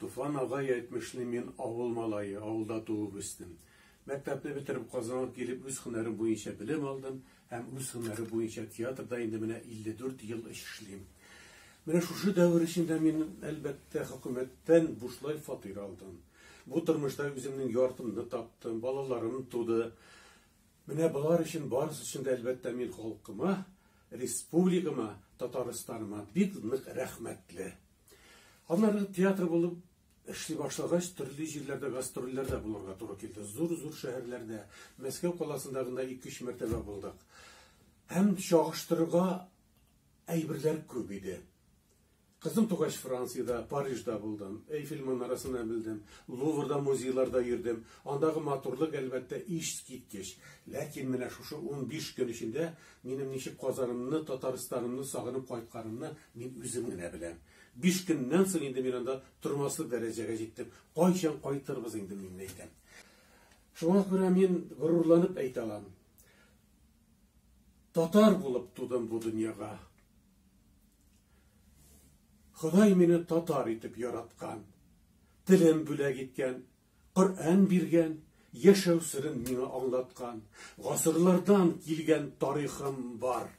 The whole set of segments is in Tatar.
Туфан агай әйтмешли, мин авыл малае, авылда туып үстем. Мәктәпне бетереп, Казанга килеп, үз һөнәрем буенча белем алдым һәм үз һөнәре буенча театрда инде менә 54 ел эшлим. Менә шушы дәвер эчендә мин, әлбәттә, хөкүмәттән бушлай фатир алдым. Бу тормышта үземнең яртымны таптым, балаларым туды. Менә болар өчен барысы өчен дә әлбәттә мин халкыма, республикама, Татарстаныма бик нык рәхмәтле. Аннары театр булып эшли башлагач, төрле җирләрдә гастрольләрдә булырга туры килде. Зур-зур шәһәрләрдә, Мәскәү каласында гына 2-3 мәртәбә булдык. Һәм чагыштырырга әйберләр күп иде. Кызым тугач Франциядә, Парижда булдым. Эйфель манарасына белдем. Луврда, музейларда йөрдем. Андагы матурлык, әлбәттә, ищскиткеч. Ләкин менә шушы унбиш көн эчендә минем ничек Казанымны, Татарстанымны сагынып кайтканымны мин үзем генә беләм. Биш көннән соң инде мин анда тормаслык дәрәҗәгә җиттем. Кайчан кайтырбыз инде, мин әйтәм. Шуңа күрә мин горурланып әйтә алам. Татар булып тудым бу дөньяга. Ходай мине татар итеп яраткан, телен бүләк иткән, Коръән биргән, яшәү серен миңа аңлаткан, гасырлардан килгән тарихым бар.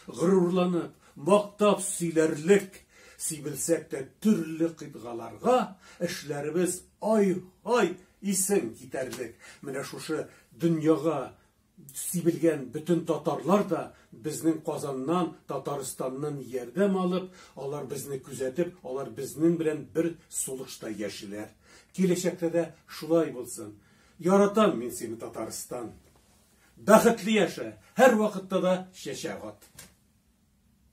Горурланып, мактап сөйләрлек, сибелсәк тә төрле кыйтгаларга, эшләребез ай-һай исең китәрлек. Менә шушы дөньяга Сибелгән бөтен татарлар да безнең Казаннан, Татарстаннан ярдәм алып, алар безне күзәтеп, алар безнең белән бер сулышта яшиләр. Киләчәктә дә шулай булсын. Яратам мин сине, Татарстан! Бәхетле яшә, һәрвакытта да чәчәк ат!